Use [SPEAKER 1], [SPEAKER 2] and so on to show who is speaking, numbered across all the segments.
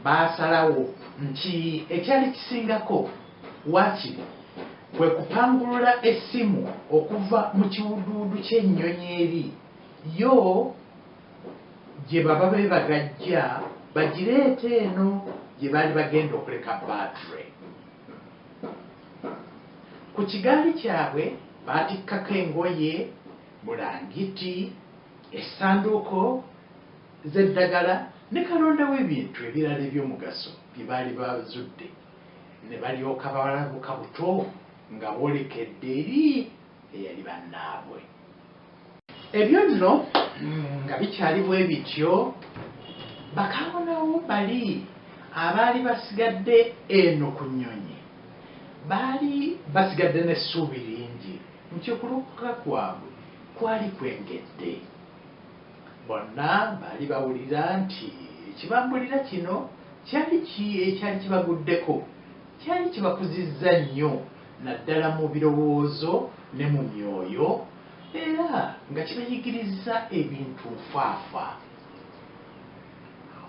[SPEAKER 1] baasalawo nti ekyali kisingako waki kwe kupangulula essimu okuva mu kiwuduwudu ky'ennyonyi eri yo gye baba beebagajja bagireete eno gye baali bagenda okuleka battery. Ku kigaali kyabwe baatikkako engoye, bulangiti, essanduuko z'eddagala ne kalonda w'ebintu ebirala eby'omugaso bye baali bazudde ne balyoka balabuka buto nga boolekedde eri eyali bannaabwe. Ebyo nno nga bikyali bwe bityo, bakaawonawo bali abaali basigadde eno ku nnyonyi baali basigadde n'essuubi lingi nti okulokoka kwabwe kwali kwengedde. Bonna baali bawulira nti ekibambulira kino kyali ekyali kibaguddeko kyali kibakuzizza nnyo. naddala mu birowoozo ne mu myoyo, era nga kibayigiriza ebintu nfaafa.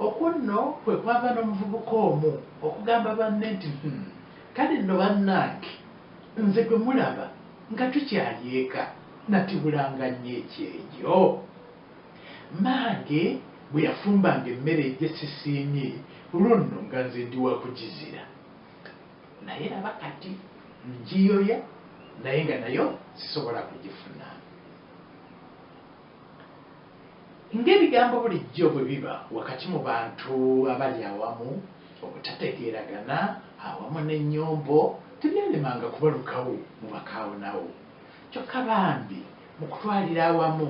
[SPEAKER 1] Okwo nno kwe kwava n'omuvubuka omu okugamba banne nti, Hum, kale nno bannange, nze gwe mulaba nga tukyali eka natibulanga nnyo ekyejo. Mmange bwe yafumbanga emmere gye sisiimye, olwo nno nga nze ndi wa kugizira. naye laba kati njiyoya naye nga nayo sisobola kugifuna ng'ebigambo bulijjo bwe biba wakati mu bantu abali awamu obutategeeragana awamu n'ennyombo tebyalemanga kubalukawo mu bakaawonawo kyokka bambi mu kutwalira awamu